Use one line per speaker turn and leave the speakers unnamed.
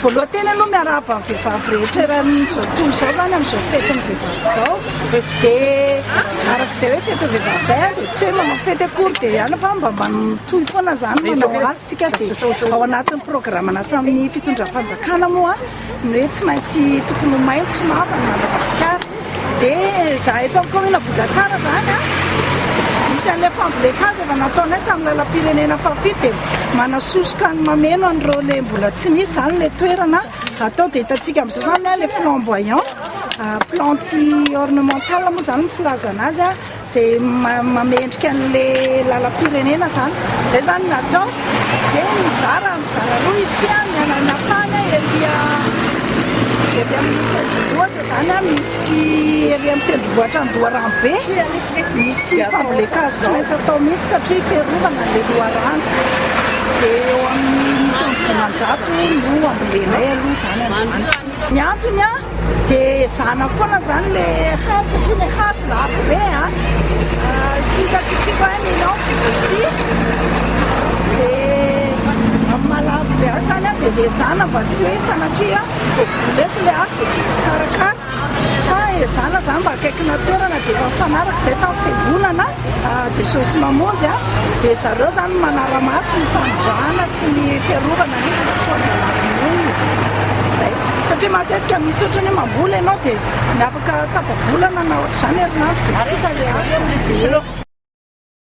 Voaloha teny aloha miarahaba ny vehivavy rehetra eran'ny zao tontolo zao zany amzao fety ny vehivavy zao de arak'izay hoe fety ny vehivavy zay a de tsy hoe manao fety akory de ihany fa mba mitohy foana zany manao azy tsika de ao anatin'ny programana samy fitondram-panjakana moa ny hoe tsy maintsy tokony ho maintso mavana Madagasikara Dia zahay tao kaominina Ambohidatsara izany a, isan'ilay fambolen-kazo efa nataonay tamin'ny lalam-pirenena fahafito dia manasosoka ny mameno an'ireo ilay mbola tsy nisy izany ilay toerana atao. Dia hitantsika amin'izao izany ilay flamboyant, plantes ornementales moa izany ny filazana azy a. Izay mamendrika an'le lalam-pirenena zany, zay zany natao de mizara mizara roa izy ity an, ny anana tany an ery ery amin'ny tendrombohitra zany an misy ery amin'ny tendrombohitra Andoharano be misy fambolen-kazo tsy maintsy atao mihitsy satria fiarovana an'le loharano de eo amin'ny misy amin'ny dimanjato no ambolenay aloha zany androany. Ny antony an Dia ezahana foana izany ilay hazo satria ilay hazo lafo be a. Ity hitantsika ity izao any Ilafy izao ity. Dia amin'ny maha-lafo be azy izany a dia ezahana mba tsy hoe sanatria vao vola eto ilay hazo dia tsy misy mikarakara. Fa ezahana izany mba akaikina toerana dia efa nifanaraka izay tamin'ny fiangonana. Jesosy mamonjy a, dia zareo zany no manara-maso ny famonjana sy ny fiarovana an'izy mba tsy ho andalam-boninona, zay. Satria matetika misy ohatra ny hoe mamboly ianao dia ny afaka tapa-bolana na ohatr'izany herinandro dia tsy hita le hazo fa very.